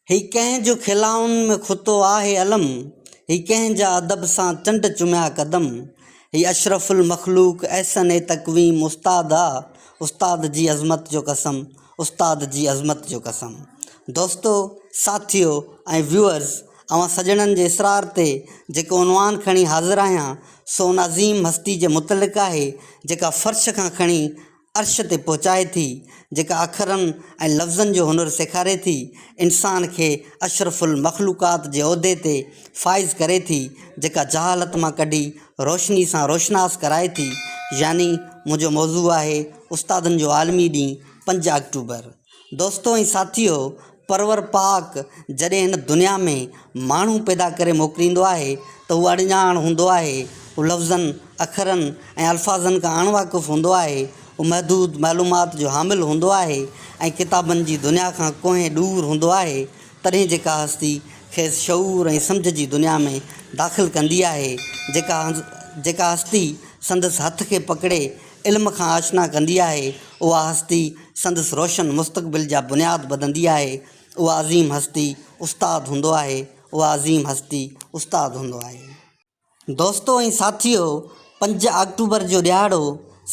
هي ڪنهن جو کلائن ۾ کتو آهي علم هي ڪنهن جا ادب سان چنڊ چميا قدم هي اشرف المخلوق احسن تقويم استاد آ استاد جي عظمت جو قسم استاد جي عظمت جو قسم دوستو ساٿيو ۽ ويوئرز اوهان سڄڻن جي اصرار تي جيڪو عنوان کڻي حاضر آهيان سو ان عظيم هستي جي متعلق آهي جيڪا فرش کان کڻي عرش تي پهچائي ٿي، جيڪا اکرن ۽ لفظن جو هنر سيکاري ٿي، انسان کي اشرف المخلوقات جي عهدي تي فائز ڪري ٿي، جيڪا جهالت مان ڪڍي روشني سان روشناس ڪرائي ٿي. يعني منهنجو موضوع آهي، استادن جو عالمي ڏينهن پنج آڪٽوبر. دوستو ۽ ساٿيو پرور پاڪ جڏهن هن دنيا ۾ ماڻهو پيدا ڪري موڪليندو آهي ته هو اڻڄاڻ هوندو آهي هو لفظن اکرن ۽ الفاظن کان اڻ واقف هوندو آهي هو محدود معلومات جو حامل هوندو آهي ۽ ڪتابن جي دنيا کان ڪوهين ڏور هوندو آهي تڏهن جيڪا هستي کيس شعور ۽ سمجهه جي دنيا ۾ داخل ڪندي آهي جيڪا جيڪا هستي سندس هٿ کي پڪڙي علم کان آشنا ڪندي آهي، اها هستي سندس روشن مستقبل جا بنياد ٻڌندي آهي، اها عظيم هستي استاد هوندو آهي، اها عظيم هستي استاد هوندو آهي. دوستو ۽ ساٿيو، پنج آڪٽوبر جو ڏهاڙو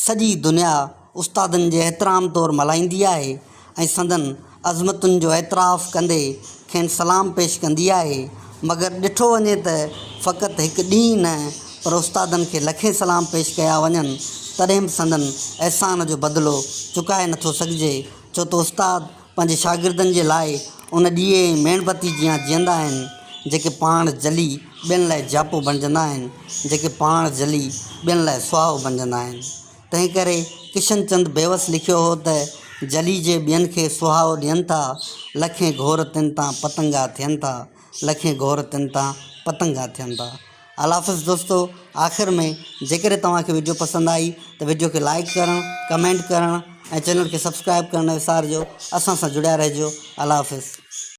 سڄي دنيا استادن جي احترام طور ملهائيندي آهي، ۽ سندن عظمتن جو اعتراف ڪندي کين سلام پيش ڪندي آهي، مگر ڏٺو وڃي ته فقط هڪ ڏينهن نه پر استادن کي لکين سلام پيش ڪيا وڃن تڏهن به سندن احسان جو بدلو چڪائي نه ٿو سگهجي ڇو ته استاد پنهنجي شاگردن جي لاء ان ڏيئي ۽ ميڻ بتي جيان جيئندا آهن جيڪي پاڻ جلي ٻين لاء جياپو بڻجندا آهن جيڪي پاڻ جلي ٻين لاء سهائو بڻجندا آهن. تنهن ڪري ڪشن چند بيوس لکيو هو ته، جلي جي ٻين کي سهائو ڏين ٿا، لکين گهور تن تان پتنگا ٿين ٿا، لکين گهور تن تان پتنگا ٿين ٿا. الافظ دوستو آخر ۾ جيڪڏهن توهان کي وڊيو پسند آئي ته وڊيو کي لائيڪ ڪرڻ ڪمينٽ ڪرڻ ۽ چينل کي سبسڪرائيب ڪرڻ نه وسارجو اسان سان جڙيا رهجو الافظ.